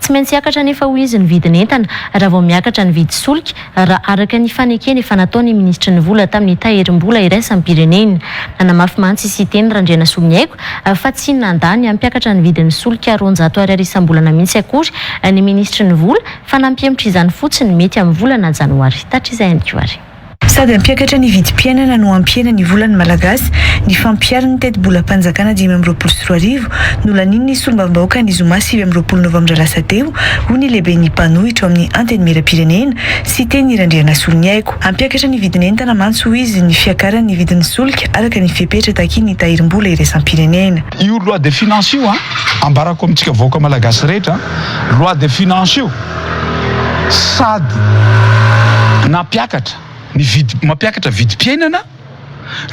Tsy maintsy hiakatra anefa hoy izy ny vidin'entana raha vao miakatra ny vidy solika, raha araka ny fanekena efa nataon'ny minisitry ny vola tamin'ny tahirim-bola iraisam-pirenena. Nanamafy mantsy i Siteny Randrianasoamihaiko fa tsy nandà ny hampiakatra ny vidin'ny solika roanjato ariary isam-bolana mihitsy akory ny minisitry ny vola fa nampihemotra izany fotsiny mety amin'ny volana janoary tatr'izay. Sady hampiakatra ny vidim-piainana no hampihena ny volan'ny Malagasy ny fampiharin'ny tetibolam-panjakana dimy amby roapolo sy roa arivo, nolanian'ny solombavambahoaka ny zoma sivy amby roapolo novambra lasa teo, hoy ny lehiben'ny mpanohitra ao amin'ny Antenimierampirenena, Siteny Randrianasoloniaiko. Hampiakatra ny vidin'entana mantsy, hoy izy, ny fiakaran'ny vidin'ny solika araka ny fepetra takian'ny Tahirimbola Iraisam-pirenena. Io loi de finances io, ambarako amintsika vahoaka Malagasy rehetra, loi de finances io, Sady nampiakatra ny vidy mampiakatra vidim-piainana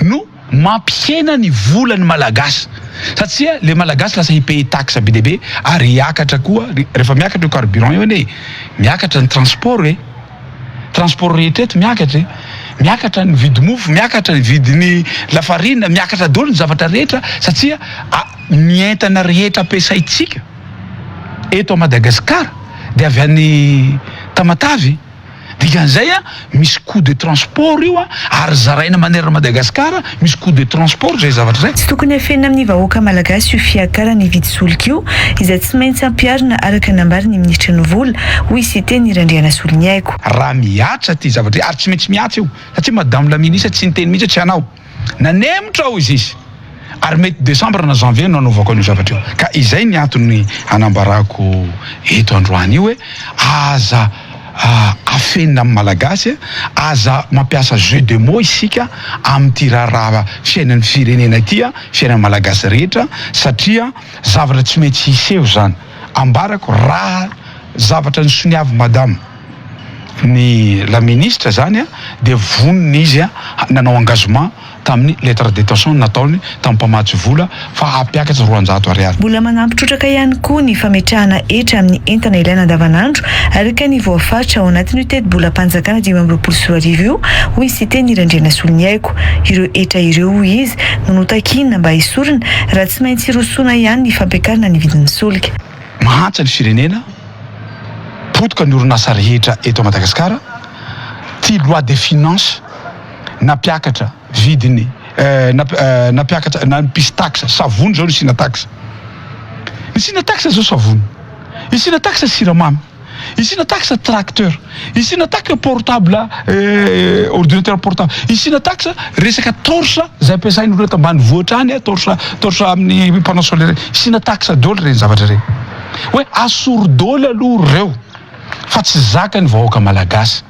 no mampihena ny volan'ny Malagasy satria le Malagasy lasa hi-payer taxe be dia be ary hiakatra koa rehefa miakatra io carburant io anie miakatra ny transport e, transport rehetra eto miakatra e, miakatra ny vidimofo, miakatra ny vidin'ny lafarina, miakatra daholo ny zavatra rehetra satria ny entana rehetra ampiasaintsika. eto à Madagascar de avy any Tamatave dikan'izay a misy coût de transport io a ary zaraina manerana Madagascar misy coût de transport zay zavatra zay. Tsy tokony afenina amin'ny vahoaka malagasy io fiakarana hividy solika io izay tsy maintsy ampiharina araka ny nambary ny minisitra ny vola, hoy Siteny Randrianasoloniaiko. Raha mihatra ity zavatra ary tsy maintsy mihatra io satria madame la ministre tsy niteny mihitsy hoe tsy hanao. Nanemotra aho hoy izy ary mety desambra na janvier no hanaovako an'io zavatra io. Ka izay ny antony hanambarako eto androany io hoe aza afenina amin'ny Malagasy, aza mampiasa jeu de mots isika amin'ity raharaha fiainan'ny firenena ity, fiainan'ny Malagasy rehetra satria zavatra tsy maintsy hiseho izany. Ambarako raha zavatra nisoniavin'i Madame. ny la ministra izany dia vonona izy nanao engagement tamin'ny lettre d'intention nataony tamin'ny mpamatsy vola fa hampiakatra roanjato ariary. Mbola manampy trotraka ihany koa ny fametrahana hetra amin'ny entana ilaina andavanandro araka ny voafaritra ao anatin'io tetibolam-panjakana dimy amby roapolo sy roa arivo io, hoy Siteny Randrianasoloniaiko. Ireo hetra ireo, hoy izy, no notakiana mba hesorina raha tsy maintsy hirosoana ihany ny fampiakarana ny vidin'ny solika. Mahantra ny firenena, potika ny orinasa rehetra eto Madagasikara, ty loi de finance nampiakatra vidiny nampiakatra nampisy taxe savony zao nisina taxe nisina taxe zao savony nisina taxe siramamy. Ici na taxe tracteur, ici na taxe portable eh, ordinateur portable, ici na taxe resaka torche izay ampiasain'ny olona tambanivohitra any, eh, torche torche amin'ny panneau solaire, ici na taxe daholo ireny zavatra ireny. Hoe asoro daholo aloha ireo fa tsy zaka ny vahoaka malagasy.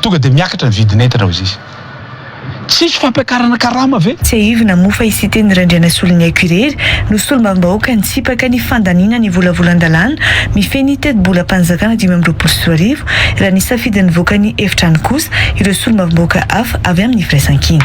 Tonga dia miakatra ny vidin'entana, hoy izy. Tsy hisy fampiakarana karama ve? Tsiahivina moa fa i Siteny Randrianasoloniaiko irery no solombavambahoaka nitsipaka ny fandaniana ny volavolan-dalàna mifehy ny tetibolam-panjakana dimy amby roapolo sy roa arivo, raha nisafidy nivoaka ny efitrano kosa ireo solombavambahoaka hafa avy amin'ny firaisankina.